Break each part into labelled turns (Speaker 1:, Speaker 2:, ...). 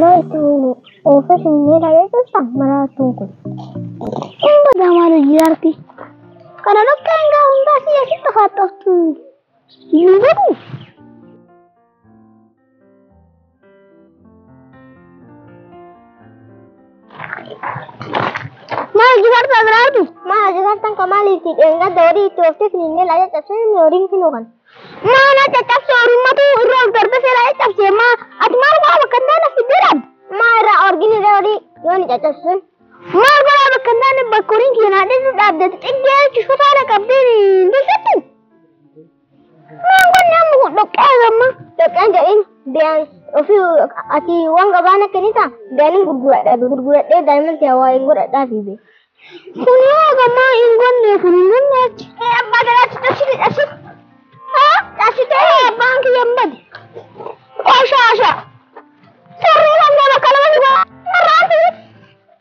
Speaker 1: Laatuun oofee sinnee dhaabee keessa maraatuun kun. Inni gamaan hojii arti. Kana lukkee hangaa hundaa si eessi xafaatoftu. Yoo godhu. Maal jifarta biraati? Maal jifartan ka maaliiti? Dheengadda horii itti ooftee finiinnee laajee cabsee inni horiin finuu kan. Maa na caccabse horimmatu irra of darbisee laajee cabsee maa ati maal godhaa bakka hin taane fiddee dhaab? Maa irraa orgini irra horii yoo ni caccabsun? Maal godhaa bakka hin taane bakka horiin kiyya naa dheedu dhaabdeetti xiggee jechuun sotaana qabdee hin deessatti? Waan qonnaan muku dhoqqee agamma dhoqqeen jedhin biyaan ofii ati waan gabaan akka nita biyaan hin gurguradha gurguradhee daa'imman ta'e waa hin godhadhaa fi bee. Kun yoo agamma hin gonne kun hin gonne achi. Ee abbaa galaatti cabsite cabsite. Haa cabsite abbaan kiyya hin bade. Qooshaasha. Sarrii kan gaba kalama ni gaba. Sarraati.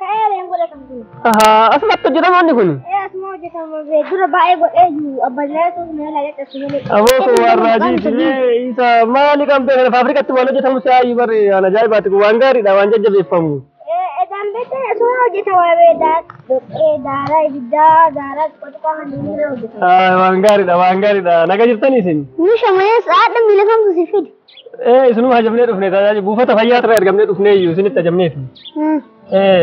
Speaker 2: Ta'ee leen godhe kan kun. Ahaa, asumatti hojjetama inni kun. Ee asuma hojjetama
Speaker 1: bee dura baay'ee godhee jiru abbaan ilaa ta'uu na ilaa jedhe asuma ilaa. Aboo kun waan raajii
Speaker 2: isinee isa maali qabdee kana faafrikatti waan hojjetamu si aayyu barri waan ajaa'ibaati kun waan gaariidha waan jajjabeeffamu. Ee edaan beektaa
Speaker 1: asuma hojjetama bee daa dhoqqee daaraa ibiddaa daaraa qotiqaa kan inni irra hojjetama. Aay, Waan gaariidha waan gaariidha
Speaker 2: naga jirtanii isin. Nu shamanees haadha
Speaker 1: miila kamtu si fide. Ee isinuma
Speaker 2: hajamnee dhufne tajaajila buufata fayyaa irraa ergamnee dhufnee iyyuu isinitti hajamneef. Ee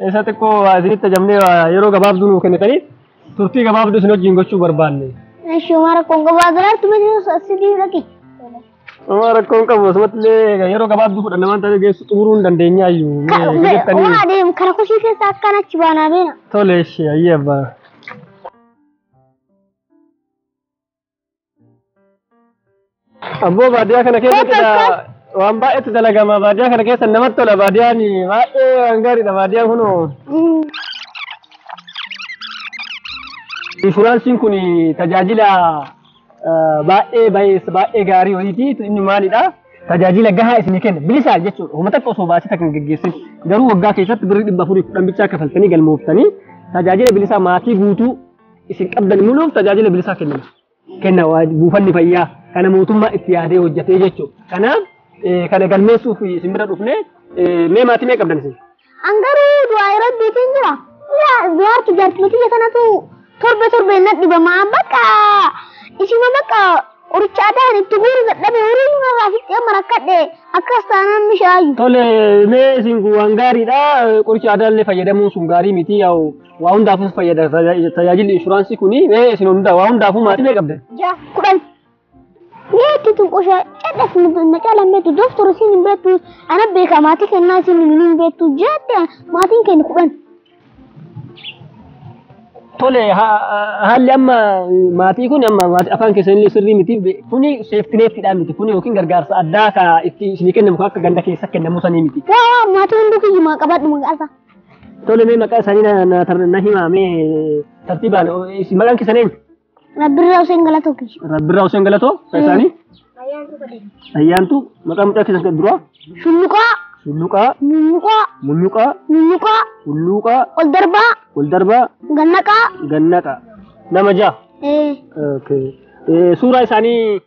Speaker 2: isa xiqqoo waa isinitti hajamnee waa yeroo gabaabduu nuu kennitanii turtii gabaabduu isin wajjin gochuu barbaanne. Eshi mara kongo
Speaker 1: bazar tu mene sidi lagi. Amma
Speaker 2: rakkoo hin qabu asumatti illee yeroo gabaabduu fudhanna waan ta'eef geessu xumuruu hin dandeenya iyyuu. Mee jettanii Wala
Speaker 1: dem kara kushi ke sakana chibana bena. tole ishee ayyee
Speaker 2: abbaa. Abboo baadiyyaa kana keessatti Bakka dha- akkas. waan baay'eetu dalagama. Baadiyyaa kana keessa namatti tola. Baadiyyaan baay'ee waan gaariidha. Baadiyyaan kun inshuraansiin kun tajaajila eh, baay'ee baay'ee baay'ee gaarii wayiiti. Inni maalidha? Tajaajila gahaa isinii kenna. Bilisaan jechuudha. Homa takka osoo baasii takka hin geggeessin. Garuu waggaa keessatti birrii dhibba afurii kudhan bichaa kafaltanii galmooftanii tajaajila bilisaa maatii guutuu isin qabdan muluuf tajaajila bilisaa kennina. Kenna waa- buufanni fayyaa kana mootummaa itti yaadee hojjetee jechuudha. Kanaaf eh, kana galmeessuuf isin bira dhufnee eh, mee maatii mee qabdan isin? An garuu du'aa
Speaker 1: rabbiitiin jira. Yaa du'aartu jaartii tiyya kanatu torbe torbe na dhibama. Bakka isima bakka qoricha aadaa kan itti guuru dadhabe horii irraa fixee marakkadhe akkas taanaan mishaayyu. Tole mee
Speaker 2: isin waan gaariidha qoricha aadaa illee fayyadamuun sun gaarii miti yaa'u Waa hundaafuu fayyada tajaajila- tajaajilli inshuraansii kun ee isin hundaa waa hundaafuu maatii mee qabdan. Ja, kudhan.
Speaker 1: Beekti tun qosha cadhas na caalan beektu doktor isin hin beektu ana beeka maatii kennaa isin hin beektu jette maatiin kennu kudhan.
Speaker 2: Tole ha- haalli amma maatii kun amma maatii afaan keessanillee sirrii miti kuni seeftineettidhaan miti kuni yookiin gargaarsa addaa ka itti isinii kennamu kan akka ganda keessa kennamu sanii miti. Waa waa maatii hunduu
Speaker 1: kiyyumaa qabadhu maqaa isaa. Tole mee
Speaker 2: maqaa isaanii na- na tar- na himaa mee tartiibaan o- isin maqaan keessan eenyu? Rabbirraa Hussein
Speaker 1: Galatoo kiyya. Rabbirraa Hussein Galatoo maqaa isaanii? Ayyaantuu maqaa mucaa keessan kan duraa? Shulluqaa, Hulluqaa, mulluqaa, mulluqaa, mulluqaa, hulluuqaa, ol darbaa, ol darbaa, gannaqaa. gannaqaa. Nama ja'a. Eh, Okay. Eh, Suuraa isaanii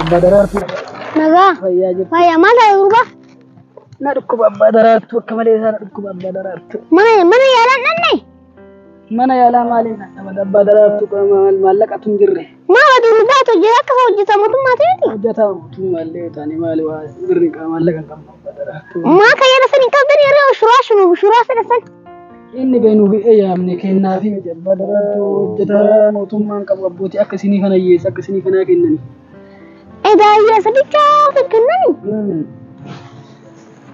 Speaker 2: Abbaa daraartuu Nagaa.
Speaker 1: fayyaa jirtu. Fayyaa maal taate gurbaa? Na
Speaker 2: dhukkuba abbaa daraartuu akka malee isaa na dhukkuba abbaa daraartuu. Mana mana yaalaan
Speaker 1: dhanne. Mana
Speaker 2: yaalaa maaliin dhaqabada abbaa daraartuu qaba maal maallaqatu hin jirre. Maal aduu nu baatu
Speaker 1: hojii akka isa hojjeta mootummaa ta'eeti. Hojjetaa mootummaa illee
Speaker 2: yoo taane maali waa birri qaamaan laga kan barbaadara. Maa kan yaada san hin
Speaker 1: qabdan yeroo shuraa shunu shuraa fedha san. Inni beenuu
Speaker 2: fi eeyyaamne kennaa fi miti abbaa daraartuu hojjetaa mootummaan qabu abbootii akka isinii kana hiyyeessa akka isinii kanaa kennani. Edaa hiyyeessa bicha ofi kennani.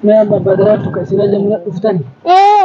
Speaker 2: Mee amma abbaa daraartuu kan isin ajamna dhuftani. Ee.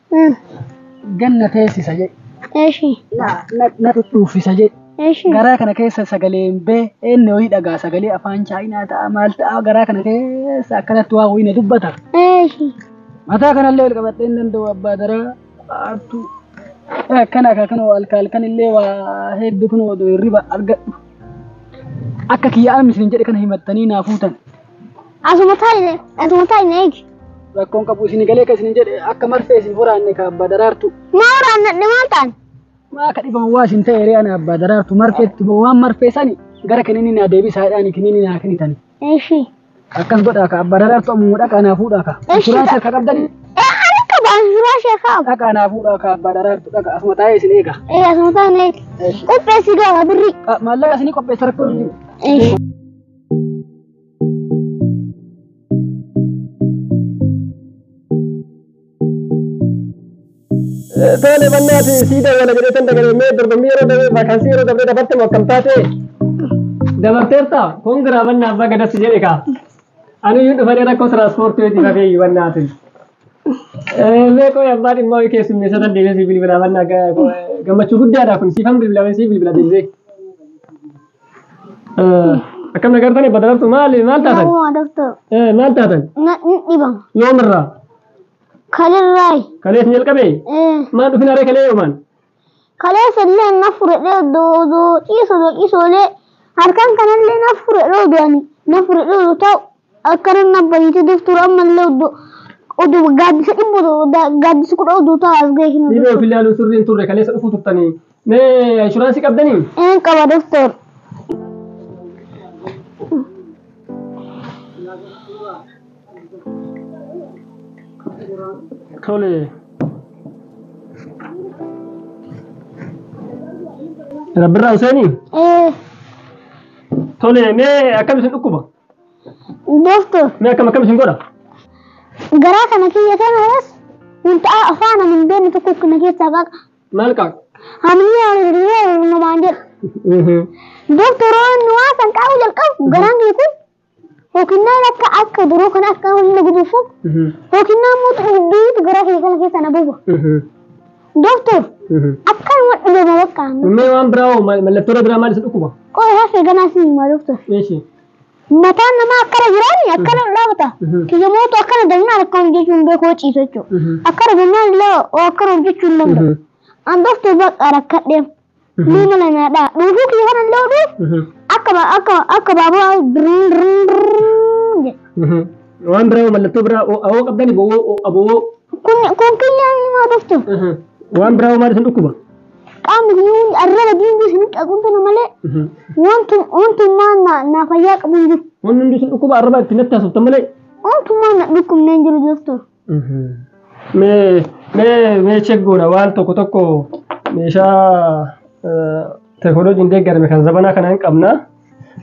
Speaker 2: Ganna teessisa jedhe. Eshi. Na,
Speaker 1: na, na
Speaker 2: dhudhuuffisa jedhe. Eshi. Garaa kana
Speaker 1: keessa
Speaker 2: sagaleen bee eenyu wayii dhagaa sagalee afaan chaayinaa ta'a maal ta'a garaa kana keessa akkanatti waa wayii na dubbata. Eshi.
Speaker 1: Mataa kanallee
Speaker 2: ol qabadhee hin danda'u abbaa daraa artuu. Akkana akka kana halka halkan illee waa hedduu kun odoo hirriba argadhu. Akka kiyya amis hin jedhe kana himattanii naa fuutan. Asuma taa'ine asuma
Speaker 1: taa'ine eegi. Rakkoon qabu isin
Speaker 2: galee kan isin jedhe akka marsee isin horaanne ka abbaa daraartu. Maa waraannadhe
Speaker 1: maal ta'an? Maa akka dhiban
Speaker 2: waa isin ta'e ree ana abbaa daraartu marfeetti boo waan marfee sani gara kiniinni naa deebisaa jedhaani kiniinni naa kenitani. Eeshi. Akkas godhaa ka abbaa daraartu ammuma dhaqaa naa fuudhaa ka. Eeshi. Suuraa isa akka qabdani Ee ani qaba suuraa
Speaker 1: ishee kaa'u. dhaqaa naa fuudhaa ka
Speaker 2: abbaa daraartu dhaqa asuma taa'ee isin eega. Ee asuma taa'ine eegi.
Speaker 1: Eeshi. Qopheessi gaama birrii. Maallaqa isinii qopheessa
Speaker 2: rakkoo hin jiru. Eeshi. Tole bannaati sii dawwala jedhee tan dagaree mee dorgommii yeroo dabaree vaakaansii yeroo dabaree dabarte moo akkam taate? Dabarteerta kongiraa bannaa abbaa gadatti jedhe kaa. Ani iyyuu dhufanii rakkoo tiraanspoortii hojii rafee iyyuu bannaatiin. Mee qoy abbaa dhimmaa ho'i keessummeessa tan deemee sii bilbilaa bannaa gammachuu guddaadha kun siifan bilbilaa siif bilbila deemee. Akkam na gartanii badda gartuu maali maal taatan? Namumaa doktor. Eh, Maal taatan? Na hin dhibama.
Speaker 1: Yoomirraa? Kalirraay. Kalees ni jalqabee?
Speaker 2: Eh. Maal dhufin haree kalee yoomaan? Kalee
Speaker 1: sallee na fudhadhee doodoo ciisu doo ciisoolee harkaan kanallee na fudhadhee doodoo na fudhadhee doo ta'u Akka nan abba hiite daftuura ammallee oddo oddo gaaddisa dhibba odoo da- gaaddisa kudha odoo ta'a as ga'e kinu Dhibee ofii ilaaluun sirrii hin turre
Speaker 2: kaleessa dhufuu turtanii. Mee inshuraansii qabdanii? Een qaba daftoor. Tole. Rabbirraa Huseenii? Ee Tole mee akkam isin dhukkuba? Dooftu
Speaker 1: Mee akkam akkam isin
Speaker 2: godha? garaa
Speaker 1: kana kiyya kanaas wanta afaan ani hin beekne tokko kana keessaa qaqa. Maal qabu?
Speaker 2: Hamni ani
Speaker 1: dirree uumamaan jedhu. Doofturoon nu waasan qabu jalqabu garaan kiyya kun hookinnaan akka akka duroo kana akka humna guduufu hookinnaan mootu dubbiitu garaa kiyya kana keessaa na buufa. Doktor, akkanuma dhibama bakka. Mee waan biraa hoo
Speaker 2: mal- mallattoo biraa maal isa dhukkuba? Qoy hafe ganaa si
Speaker 1: hima doktor. Eeshi.
Speaker 2: Mataan
Speaker 1: namaa akkana jiraani akkana dhaabata. Mhm. Kiyyamootu akkana dagnaan akkana hojjechuun beekoo ciisa jechuudha. Mhm. Akkana dagnaan illee oo akkana hojjechuu hin danda'u. Mhm. An doktor bakka rakkadheef Mee mala nyaadhaa. Dhuufuu kiyya kana illee oduu akka ba- akka akka baaburaa birriin birriin birriin jedha.
Speaker 2: Waan biraa mallattoo biraa awoo qabdani bowoo abowoo. Kun kun
Speaker 1: kiyyaan haa dhuftu. Waan biraa
Speaker 2: maal isin dhukkuba? Qaamni kiyya
Speaker 1: hundi arraba diinbii isin qaquun kana malee wantu wantummaan na na fayyaa qabu hin jiru. Wanni hundi isin dhukkuba arraba
Speaker 2: itti natti haasoftan malee. Wantummaan na
Speaker 1: dhukkubnee hin jiru doktor. Mee
Speaker 2: mee mee check goona waan tokko tokko meeshaa teekinooloojiin deeggarame kan zabanaa kana hin qabna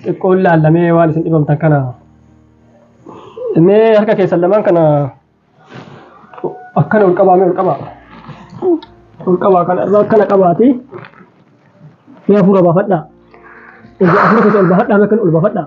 Speaker 2: xiqqoon laallamee waan isin dhibamtan kana mee harka keessan lamaan kana akkana ol qabaa mee ol qabaa ol qabaa kana irraa akkana qabaati mee hafuura baafadhaa hafuura keessa ol baafadhaa mee akkana ol baafadhaa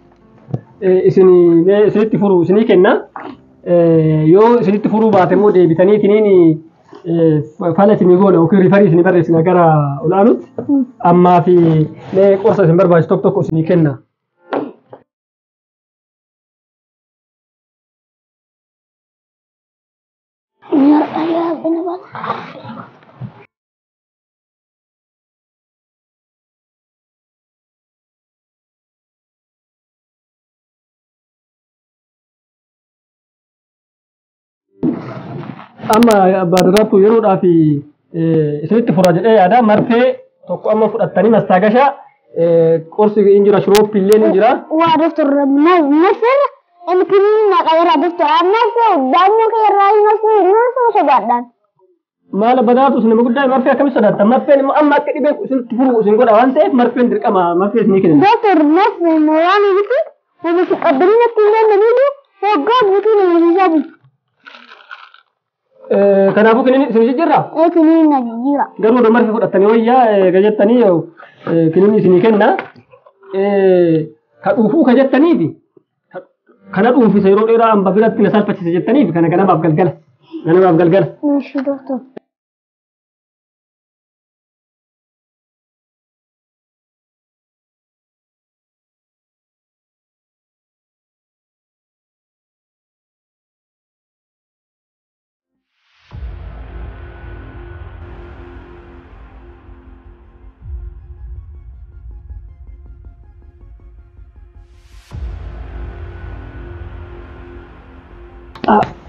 Speaker 2: isin mee isinitti furu isinii kenna Eh, yoo isinitti furuu baate immoo deebitanii isiniin eh, fala isinii goona yookiin rifarii isinii barreessina gara olaanutti ammaa fi mee qorsa isin barbaachisu tokko tokko isinii kenna. amma baadaraatu yeroodhaaf isinitti fura jedhee yaada marfee tokko amma fudhattanii mastaagasha qorsi hin jira shiroopi illee hin jira. Waa doktor
Speaker 1: marfeera inni kiriin naqayeera doktor amma daa'imman kee irraa hin hafne hin hafne sodaadhaan. Maala
Speaker 2: badaatu isin nama guddaa marfee akkamitti sodaattan marfeen immoo amma akka dhibeen kun isinitti furu isin godha waan ta'eef marfeen dirqama marfee isinii kenna. Doktor Marfee
Speaker 1: mooraanii miti nama si qabdanii natti hin dandeenye hoggaa guutuu nama siisaa bulu.
Speaker 2: Kanaafuu kiniin isin jijjiirra Eekiniin na jijjiira.
Speaker 1: garuu odoo marfee fudhattanii
Speaker 2: wayyaa eega jettanii kiniin isinii kenna ka dhuufuu ka jettaniifi Kana dhuunfisa yeroo dheeraa amma biratti na salphachise jettaniif kana ganamaaf galgala. Ganamaaf galgala. Nashiidoo tun.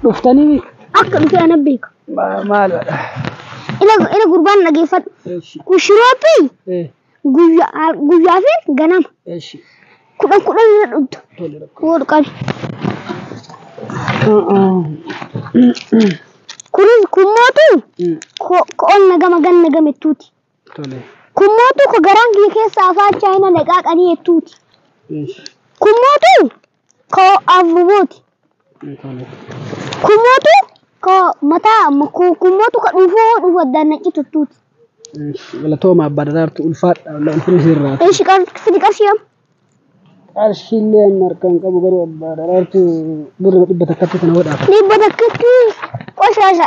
Speaker 2: Dhuftanii Akka dhufe
Speaker 1: ana beeka. maal
Speaker 2: Ina
Speaker 1: ina gurbaan dhageeffadhu. Kushiroopi guyyaa guyyaa fi ganama Eshi. kudhan kudhan irra dhugdu Tole rakko. wal qabi. Kunis kun mootu Mm. ko- ko'oon nagama gan nagame tuuti. Tole. Kun mootu ko garaan kiyya keessa afaan chaayina naqaaqanii jettuuti. Eshi. Kun mootu koo avuvuti kumotu ko mata ko kumotu ka dhufu dhufu dana citu tuti Galatooma
Speaker 2: abbaa daraartu ulfaadha ulfinni sirraa. ishi qar fiti qarshiyam Qarshiillee amma harkaan qabu garuu abbaa daraartu birra dhibba takkatti kana godhaaf. dhibba takkatti
Speaker 1: qoshasha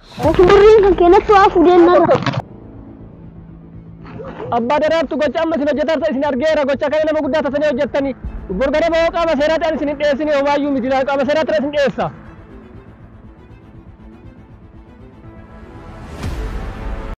Speaker 1: Ofi birriin kan keenyattu haa fudheen narra.
Speaker 2: Abbaa Daraartu gocha amma isin hojjetaa jirtan isin argeera gocha kana nama guddaa tatanii hojjettanii bor ganama yoo qaama seeraatti an isin hin dhiyeessine homaayyuu miti laa qaama seeraatti isin dhiyeessa.